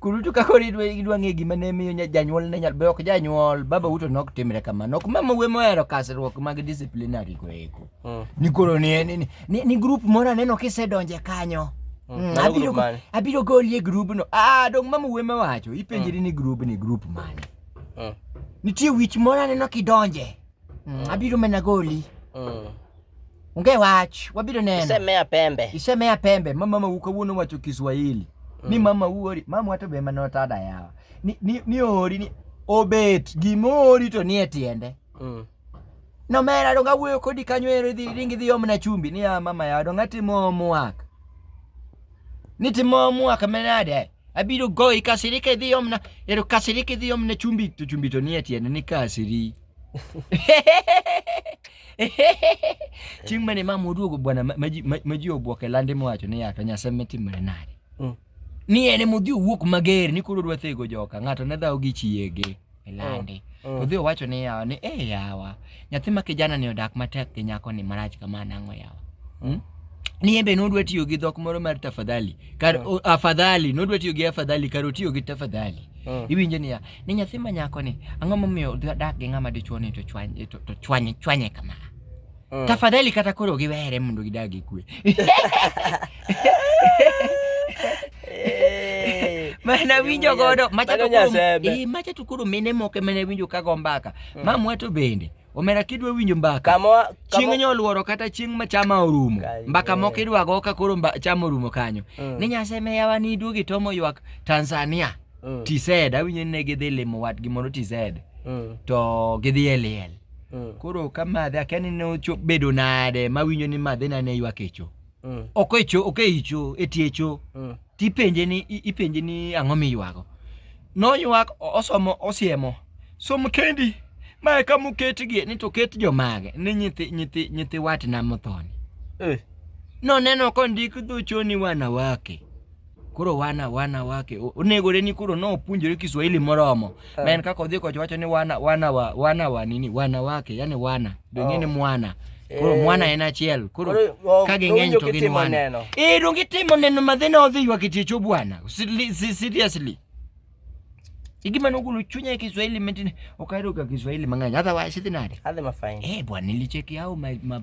Kurutu ka koro idwa idwa ng'e gima ne miyo nya- janyuol ne nyal be ok janyuol baba uto nok timre kamano ok mama we mohero kasruok mag disciplinary go eko Mm. ni koro ni ni, ni- ni, ni group moro aneno kisedonje kanyo Mm, Mm, mano abiro group go- mane? abiro golie grubno ah dong mama we mawacho ipenjri ni grub ni group mane Mm. nitie wich moro aneno kidonje Mm, abiro mana goli. Mm. Onge wach, wabiro neno. Isemea pembe. Isemea pembe. Mama mama ukawuono wacho Kiswahili. Mm. Ni mama uori, mama wato be mano tada yawa. Ni ni, ni ori ni obet gimori to nie tiende. Mm. No mera donga wuoyo kodi kanyo ero dhi ringi dhi omna chumbi ni ya mama ya donga timo omwak. Ni timo omwak menade. Abiro goyi kasiri ka idhi omna, ero kasiri ka idhi omna chumbi to chumbi to nie tiende ni kasiri. Chieng' mane mama oduogo bwana ma ji obwok e lande mowacho ni yaka Nyasaye metimre nade. Mm. Ni en emodhi owuok mager ni koro odwa thego joka, ng'ato ne dhawo gi chiege. e lande. Oh, oh. To dhi owacho ne yawa ni eh, yawa nyathi ma kijana ni odak matek gi nyako ni marach kama nang'o yawa. Oh. Hmm? Ni embe nodwa tiyo gi dhok moro mar tafadhali. Kar oh. afadhali nodwa tiyo gi afadhali kar otiyo gi tafadhali. Oh. Iwinjo niya, ni nyathi ma nyako ni ang'o momiyo odak gi ng'ama dichuo ni to chwanye to chwanye chwanye kama. Mm. Tafadhali kata koro giwere mondo gidagi kwe. Eh. Mana winjo godo macha to koro eh macha to koro mine moke mene winjo ka go mbaka. Mm. Mamwa to bende. Omera kidwa winjo mbaka. Kama chieng' nyoluoro kata chieng' ma chama orumo. Mbaka moko idwa go ka koro chama orumo kanyo. Mm. Ni nyaseme yawa ni duogi tomo ywak Tanzania. Mm. TZ awinjo ni ne gidhi limo watgi moro TZ Mm. to gidhi e liel. Mm. Koro ka madhe akia ni ne ocho- bedo nade mawinjo ni madhe na ne ywak echo. Mm. Ok echo, ok eicho, etiecho. Mm. tipenje ni i- ipenje ni ang'o miywago noywak o- osomo osiemo som kendi ma eka moketgi ni to ket jomage ni nyithi nyithi nyithi watna mothoni Eh. noneno kondik dhochoni wanawake koro wana wana wake onego reni koro no opunjore Kiswahili moromo uh. men kaka odhi kocha wacho ni wana wana wa wana wa nini wana wake yani wana donge oh. ni mwana koro eh. mwana en achiel koro oh, ka ging'eny to gin wana eh donge timo neno madhina odhi ywa kitiecho bwana seriously igima nogolo chunya e Kiswahili metine okairo ka Kiswahili mang'eny otherwise sidhi nade adhi mafine eh bwana nilicheki au ma, ma